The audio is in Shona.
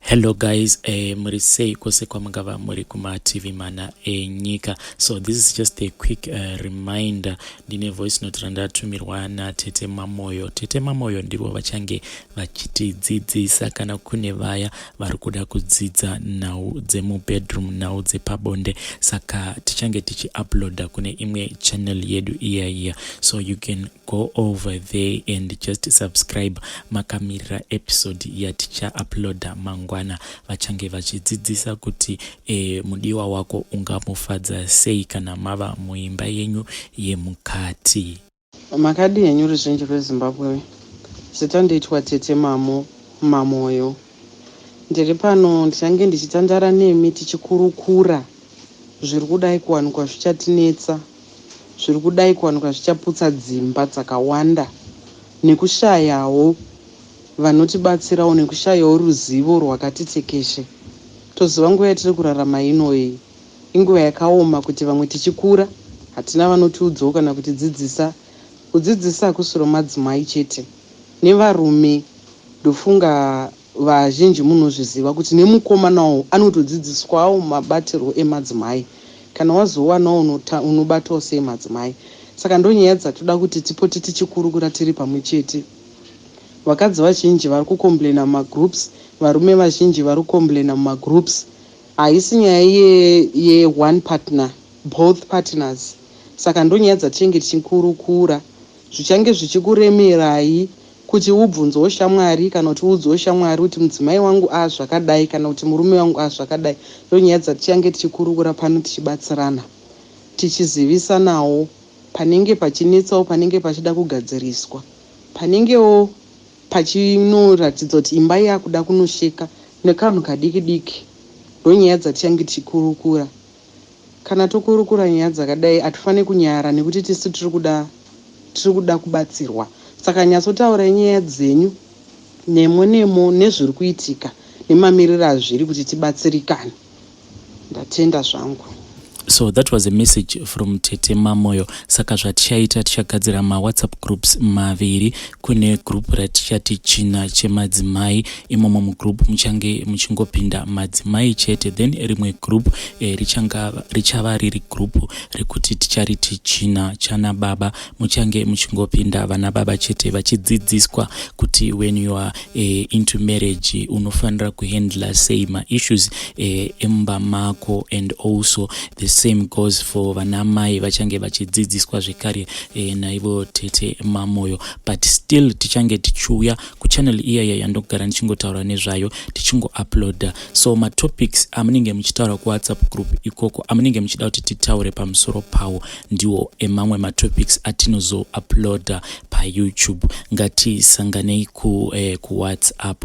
Hello guys, eh, muri sei kwose kwamungava muri kumativi mana enyika. So this is just a quick uh, reminder. Ndine voice note randatumirwa naTete Mamoyo. Tete Mamoyo ndivo vachange vachitidzidzisa kana kune vaya vari kuda kudzidza nhau dzemubedroom, nhau dzepabonde. Saka tichange tichiuploada kune imwe channel yedu iya iya. So you can go over there and just subscribe makamirira episode yaticha uploada mangwana vachange vachidzidzisa kuti e, mudiwa wako ungamufadza sei kana mava muimba yenyu yemukati makadi henyu ruzhinji rwezimbabwe zita ndoitwa tete mamo mamoyo ndiri pano ndichange ndichitandara nemi tichikurukura zviri kudai kuwanikwa zvichatinetsa zviri kudai kuwanikwa zvichaputsa dzimba dzakawanda nekushayawo vanotibatsirawo nekushayawo ruzivo rwakati tekeshe. Toziva nguva yatiri kurarama ino iyi inguva yakaoma kuti vamwe tichikura hatina vanotiudzawo kana kutidzidzisa. Kudzidzisa hakusiro madzimai chete nevarume ndofunga. Vazhinji munozviziva kuti nemukomanawo anotodzidziswawo mabatirwo emadzimai kana wazowana unobatawo sei madzimai saka ndonyaya dzatoda kuti tipote tichikurukura tiri pamwe chete vakadzi vazhinji vari kucomplainer mumagroups varume vazhinji vari kucomplainer mumagroups haisi nyaya ye, ye one partner both partners saka ndonyaya dzatichange tichikurukura zvichange zvichikuremerai Kuti ubvunzewo shamwari kana kuti uudzewo shamwari kuti mudzimai wangu a zvakadai kana kuti murume wangu a zvakadai ndonyaya dzatichange tichikurukura pano tichibatsirana tichizivisanawo panenge pachinetsawo panenge pachida kugadziriswa panengewo pachinoratidza kuti imba yakuda kunosheka nekanhu kadiki diki ndonyaya dzatichange tichikurukura Kana tokurukura nyaya dzakadai atifanire kunyara nekuti tisu tiri kuda tiri kuda kubatsirwa saka nyatsotaurai nyaya dzenyu nemo nemo nezviri kuitika nemamiriro azviri kuti tibatsirikane. Ndatenda zvangu. So that was a message from Tete Mamoyo. Saka zvatichaita tichagadzira ma WhatsApp groups maviri kune group ratichati china chemadzimai imomo mugroup muchange muchingopinda madzimai chete then rimwe group eh, richava riri group rekuti tichariti china chana baba muchange muchingopinda vana baba chete vachidzidziswa kuti when you are eh, into marriage unofanira kuhandla sei maissues eh, emumba mako and also the same goes for vana mai vachange vachidzidziswa zvekare eh, naivo tete mamoyo but still tichange tichiuya kuchannel iyaya yandogara ndichingotaura nezvayo tichingouploada so matopics amunenge muchitaura kuwhatsapp group ikoko amunenge muchida kuti titaure pamusoro pawo ndiwo emamwe matopics atinozouploada payoutube ngatisanganei ku, eh, kuwhatsapp